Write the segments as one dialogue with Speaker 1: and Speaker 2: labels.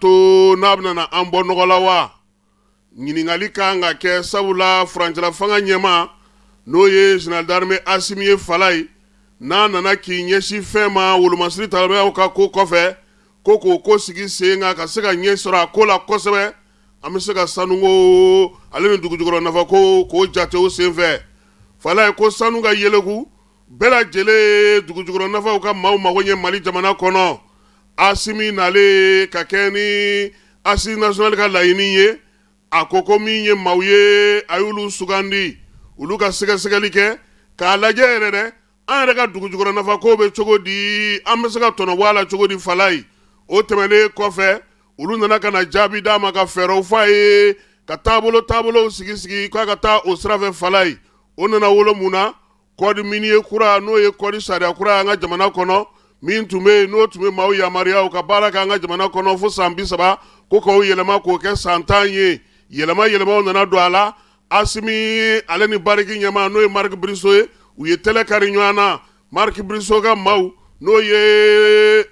Speaker 1: to n'a bɛna na an bɔ nɔgɔ la wa ɲininkali ka kan ka kɛ sabula furancɛlafanga ɲɛmaa n'o ye général d'armée Asimi ye Falaye n'a nana k'i ɲɛsin fɛn ma wolomasiri talabayaw ka ko kɔfɛ ko k'o ko sigi sen kan ka se ka ɲɛ sɔrɔ a ko la kosɛbɛ an bɛ se ka sanuko ale ni dugu jukɔrɔ nafa ko k'o jate o senfɛ Falaye ko sanu ka yeleku bɛɛ lajɛlen ye dugujukɔrɔnafaw ka maaw mago ɲɛ Mali jamana kɔnɔ, Asimi nalen ka kɛɲɛ ni Assises nationales ka laɲini ye, a ko ko min ye maaw ye, a y'olu sugandi, olu ka sɛgɛsɛgɛli kɛ, k'a lajɛ yɛrɛ dɛ, an yɛrɛ ka dugujukɔrɔnafa kow bɛ cogo di? An bɛ se ka tɔnɔ bɔ a la cogo di? Falaye o tɛmɛnen kɔfɛ, olu nana ka na jaabi d'a ma, ka fɛɛrɛw fɔ a ye, ka taabolo taabolow sigi sigi k'a ka taa o sira fɛ. Falaye o nana wolo mun na? code minier kura n'o ye code sariya kura an ka jamana kɔnɔ min tun bɛ yen n'o tun bɛ maaw yamaruya u ka baara kɛ an ka jamana kɔnɔ fo san bi saba ko k'o yɛlɛma k'o kɛ san tan ye yɛlɛma yɛlɛmaw nana don a la Asimi ale ni Barrick ɲɛmaa n'o ye Mark Bristow ye u ye tɛlɛ kari ɲɔgɔn na Mark Bristow ka maaw n'o ye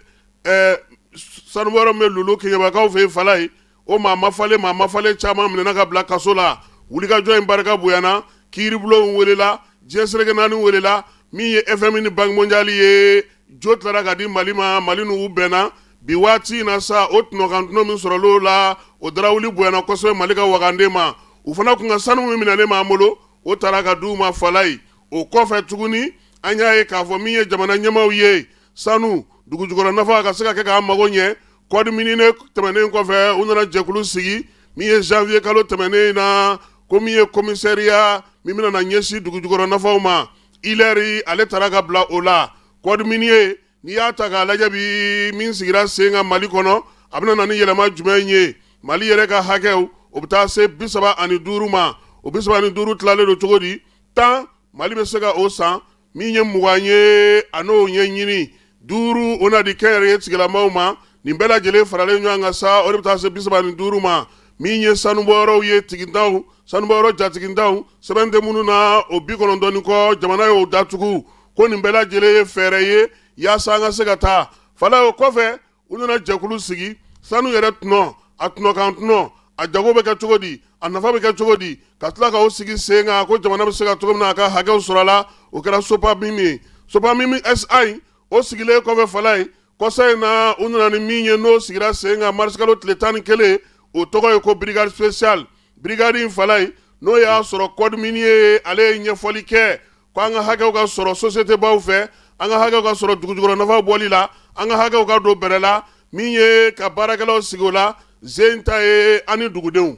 Speaker 1: sanubɔyɔrɔ min bɛ Loulo Keɲebakaw fɛ Falaye o maa mafalen maa mafalen caman minɛna ka bila kaso la wulikajɔ in barika bonyana kiiribulonw welela diɲɛ seleke naani welela min ye FMI ni Banque mondiale ye jo tilara ka di mali ma mali n'u bɛnna bi waati in na sa o tɔnɔkantɔnɔ min sɔrɔla o la o darawuli bonyana kosɛbɛ mali ka wagande ma u fana kun ka sanu min minɛnen b'an bolo o taara ka di u ma Falaye o kɔfɛ tuguni an y'a ye k'a fɔ min ye jamana ɲɛmaaw ye sanu dugu jukɔrɔ nafa ka se ka kɛ k'an mago ɲɛ Code minier in tɛmɛnen kɔfɛ u nana jɛkulu sigi min ye janvier kalo tɛmɛnen in na ko min ye commissariat min bɛna na ɲɛsin dugu jukɔrɔ nafaw ma Hilaire ale taara ka bila o la code minier n'i y'a ta k'a lajɛ bi min sigira sen kan mali kɔnɔ a bɛna na ni yɛlɛma jumɛn ye mali yɛrɛ ka hakɛw o bɛ taa se bi saba ani duuru ma o bi saba ani duuru tilalen don cogo di tan mali bɛ se ka o san min ye mugan ye a n'o ɲɛɲini duuru o na di kɛnyɛrɛye tigilamaw ma nin bɛɛ lajɛlen faralen ɲɔgɔn kan sa o de bɛ taa se bi saba ni duuru ma min ye sanubɔyɔrɔw ye tigintanw sanubɔyɔrɔ jatigintanw sɛbɛn tɛ minnu na o bi kɔnɔntɔn kɔ jamana y'o datugu ko nin bɛɛ lajɛlen ye fɛɛrɛ ye yaasa an ka se ka taa Falaye o kɔfɛ u nana jɛkulu sigi sanu yɛrɛ tɔnɔ a tɔnɔkan tɔnɔ a jago bɛ kɛ cogo di a nafa bɛ kɛ cogo di ka tila k'o sigi sen kan ko jamana bɛ se ka cogo min na a ka hakɛw sɔrɔ a la o kɛra SOPAMIM ye SOPAMIM SA o sigilen kɔfɛ Falaye kɔsa in na u nana ni min ye n'o sigira sen kan marisikalo tile tan ni kelen o tɔgɔ ye ko brigade spéciale brigade in Falaye n'o y'a sɔrɔ code minier ale ye ɲɛfɔli kɛ ko an ka hakɛw ka sɔrɔ sosiyetebaw fɛ an ka hakɛw ka sɔrɔ dugujukɔrɔnafa bɔli la an ka hakɛw ka don bɛrɛ la min ye ka baarakɛlaw sigi o la zen ta ye ani dugudenw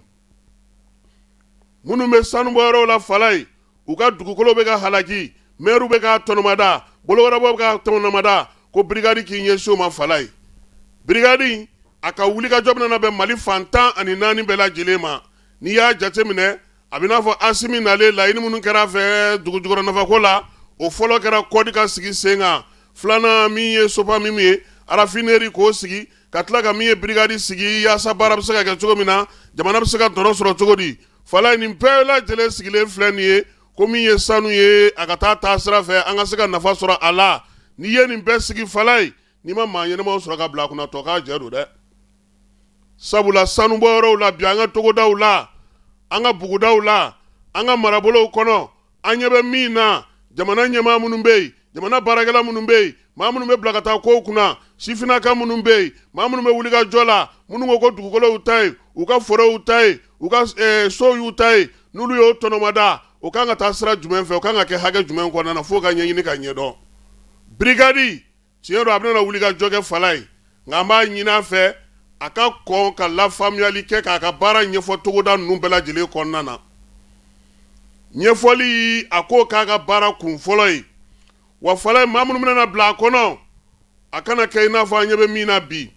Speaker 1: minnu bɛ sanubɔyɔrɔw la falaye u ka dugukolo bɛ ka halaki mɛriw bɛ ka tɔnɔmada bolo wɛrɛbaw bɛ ka tɔnɔmada ko birigadi k'i ɲɛsin o ma falaye birigadi a ka wulikajɔ bɛna bɛn mali fan tan ani naani bɛɛ lajɛlen ma n'i y'a jateminɛ a bɛ n'a fɔ asimi nalen laɲini minnu kɛra a fɛ dugu jukɔrɔ nafako la o fɔlɔ kɛra kɔdi ka sigi sen kan filanan min ye sopamimu ye arafineri k'o sigi ka tila ka min ye birigadi sigi yaasa baara bɛ se ka kɛ cogo min na jamana bɛ se ka tɔnɔ sɔrɔ cogo di falaye nin bɛɛ lajɛlen sigilen filɛ nin ye ko min ye sanu ye a ka taa taa sira fɛ an ka se ka nafa sɔrɔ a la n'i ye nin bɛɛ sigi falaye n'i ma maa ɲɛnamaw sɔrɔ ka bila a kunna tɔ k'a jɛ don dɛ sabula sanubɔ yɔrɔw la bi an ka togodaw la an ka bugudaw la an ka marabolow kɔnɔ an ɲɛ bɛ min na jamana ɲɛmaa minnu bɛ yen jamana baarakɛla minnu bɛ yen maa minnu bɛ bila ka taa kow kunna sifinnaka minnu bɛ yen maa minnu bɛ wuli ka jɔ la minnu ko ko dugukolow ta ye u ka forow ta ye u ka eh, sow y'u ta ye n'olu y'o tɔnɔmada o kan ka taa sira jumɛn fɛ o kan ka kɛ hakɛ jumɛn kɔnɔna na fo u ka ɲɛɲini ka ɲɛdɔn birigadi tiɲɛ don a bɛna wulikajɔ kɛ falaye nka an b'a ɲini a fɛ a ka kɔn ka lafaamuyali kɛ k'a ka baara ɲɛfɔ togoda ninnu bɛɛ lajɛlen kɔnɔna na ɲɛfɔli a k'o k'a ka baara kun fɔlɔ ye wa falaye maa minnu bɛna bila a kɔnɔ a kana kɛ i n'a fɔ an ɲɛ bɛ min na bi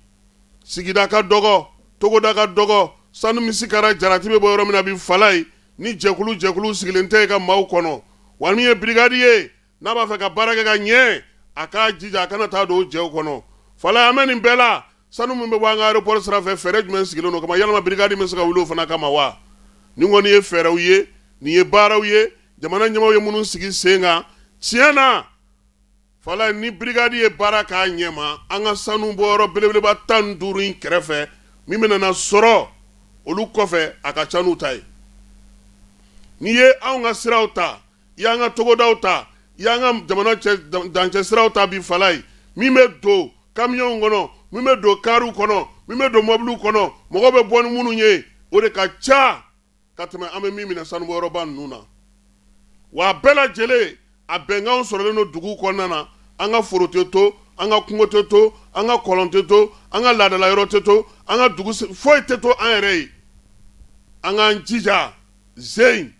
Speaker 1: sigida ka dɔgɔ togoda ka dɔgɔ sanu misi kɛra jarati bɛ bɔ yɔrɔ min na bi falaye ni jɛkulu jɛkulu sigilen tɛ yen ka maaw kɔnɔ wa min ye birigadi ye n'a b'a fɛ ka baara kɛ ka ɲɛ a k'a jija a kana taa don o jɛw kɔnɔ falaye an bɛ nin bɛɛ la sanu min bɛ bɔ an ka ayeropɔri sira fɛ fɛɛrɛ jumɛn sigilen don o kama yalama birigadi bɛ se ka wuli o fana kama wa nin kɔni ye fɛɛrɛw ye nin ye baaraw ye jamana ɲɛmaaw ye minnu sigi sen kan tiɲɛ na falaye ni birigadi ye baara k'a ɲɛma an ka sanubɔyɔrɔ belebeleba tan duuru in kɛrɛfɛ min bɛna sɔrɔ olu kɔfɛ a ka ca n'u ta ye n'i ye an ka siraw ta i y'an ka togodaw ta i y'an ka jamana dancɛ siraw ta bi falaye min bɛ don kamiyɔnw kɔnɔ min bɛ don kariw kɔnɔ min bɛ don mɔbiliw kɔnɔ mɔgɔw bɛ bɔ ni minnu ye o de ka ca ka tɛmɛ an bɛ min minɛ sanubɔyɔrɔba ninnu na wa a bɛɛ lajɛlen a bɛnkanw sɔrɔlen don dugu kɔnɔna na an ka foro tɛ to an ka kungo tɛ to an ka kɔlɔn tɛ to an ka laadadala yɔrɔ tɛ to an ka dugu foyi tɛ to an yɛrɛ ye an k'an jija zen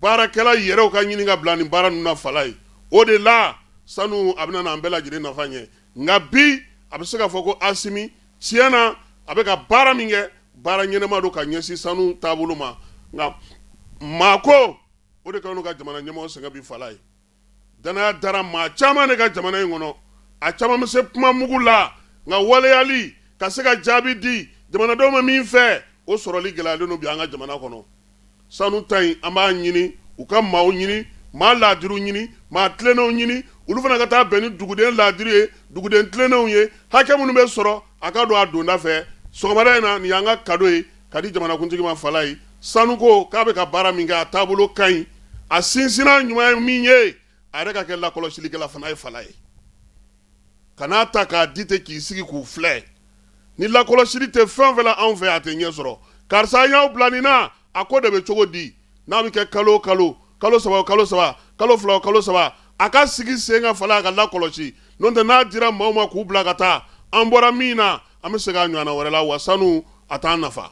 Speaker 1: baarakɛla yɛrɛw ka ɲini ka bila nin baara ninnu na falaye o de la sanu a bɛna n'an bɛɛ lajɛlen nafa ɲɛ nka bi a bɛ se ka fɔ ko asimi tiɲɛ na a bɛ ka baara min kɛ baara ɲɛnɛma don ka ɲɛsin sanu taabolo ma nka maako o de k'an ka jamana ɲɛmɔgɔ sɛgɛn bi falaye Dannaya dara maa caman de kan jamana in kɔnɔ a caman bɛ se kuma mugu la nka waleyali ka se ka jaabi di jamanadenw ma min fɛ o sɔrɔli gɛlɛyalen don bi an ka jamana kɔnɔ sanu ta in an b'a ɲini u ka maaw ɲini maa laadiriw ɲini maa tlennenw ɲini olu fana ka taa bɛn ni duguden laadiri ye duguden tlennenw ye hakɛ minnu bɛ sɔrɔ A ka don a donda fɛ sɔgɔmada in na nin y'an ka kado ye ka di jamanakuntigi ma Falayi sanuko k'a bɛ ka baara min kɛ a taabolo ka ɲi a sinsinna ɲuman ye min ye a yɛrɛ ka kɛ lakɔlɔsilikɛla fana ye Falayi kan'a ta k'a di ten k'i sigi k'u filɛ ni lakɔlɔsili tɛ fɛn o fɛn la anw fɛ a tɛ ɲɛ sɔrɔ karisa an y'aw bila nin na A ko de bɛ cogo di n'a bɛ kɛ kalo o kalo kalo saba o kalo saba kalo fila o kalo saba a ka sigi sen kan Fala a ka lakɔlɔsi n'o tɛ n'a dira maaw ma k'u bila ka taa an bɔra min na an bɛ segin a ɲɔgɔnna wɛrɛ la wa sanu a t'an nafa